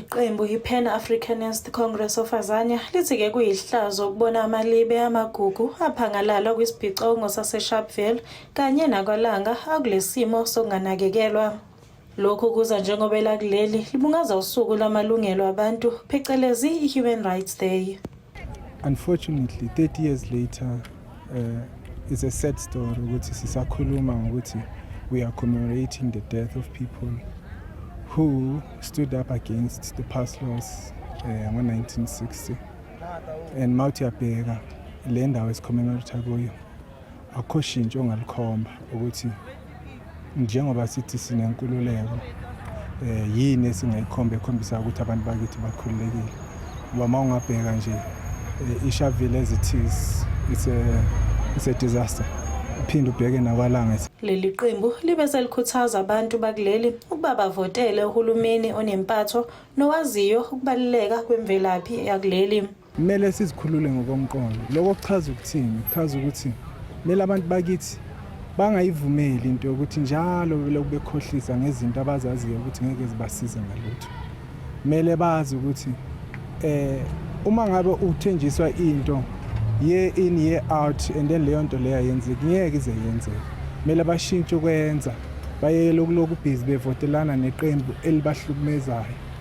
Iqembu iPan Africanist Congress of Azania lithi ke kuyihlazo ukubona amalibe amagugu aphangalala kwisibhicongo saseSharpeville kanye nakwalanga akulesimo sokunganakekelwa. Lokhu kuza njengoba elakuleli libungaza usuku lamalungelo abantu phecelezi i-Human Rights Day. Unfortunately 30 years later uh, it's a sad story ukuthi sisakhuluma ngokuthi we are commemorating the death of people who stood up against the pass laws uh, ngo-1960 and mawuthi uyabheka le ndawo esicommemorata kuyo akukho shintsho ongalikhomba ukuthi njengoba sithi sinenkululeko eh yini esingayikhomba ekhombisa ukuthi abantu bakithi bakhululekile ngoba uma ungabheka nje eh, ishavile ezithize it's a it's a disaster uphinde ubheke nakwalanga leli qembu libe selikhuthaza abantu bakuleli ukuba bavotele uhulumeni onempatho nowaziyo ukubaluleka kwemvelaphi yakuleli Kumele sizikhulule ngokomqondo. Lokho kuchaza ukuthini? Kuchaza ukuthi kumele abantu bakithi bangayivumeli into yokuthi njalo belokhu bekhohlisa ngezinto abazaziyo ukuthi ngeke zibasize ngalutho. Kumele bazi ukuthi eh uma ngabe uthenjiswa into year in year out and then leyo nto leyo ayenzeki ngeke ize yenzeke kumele bashintshe ukwenza bayekele ukulokhu ubhizi bevotelana neqembu elibahlukumezayo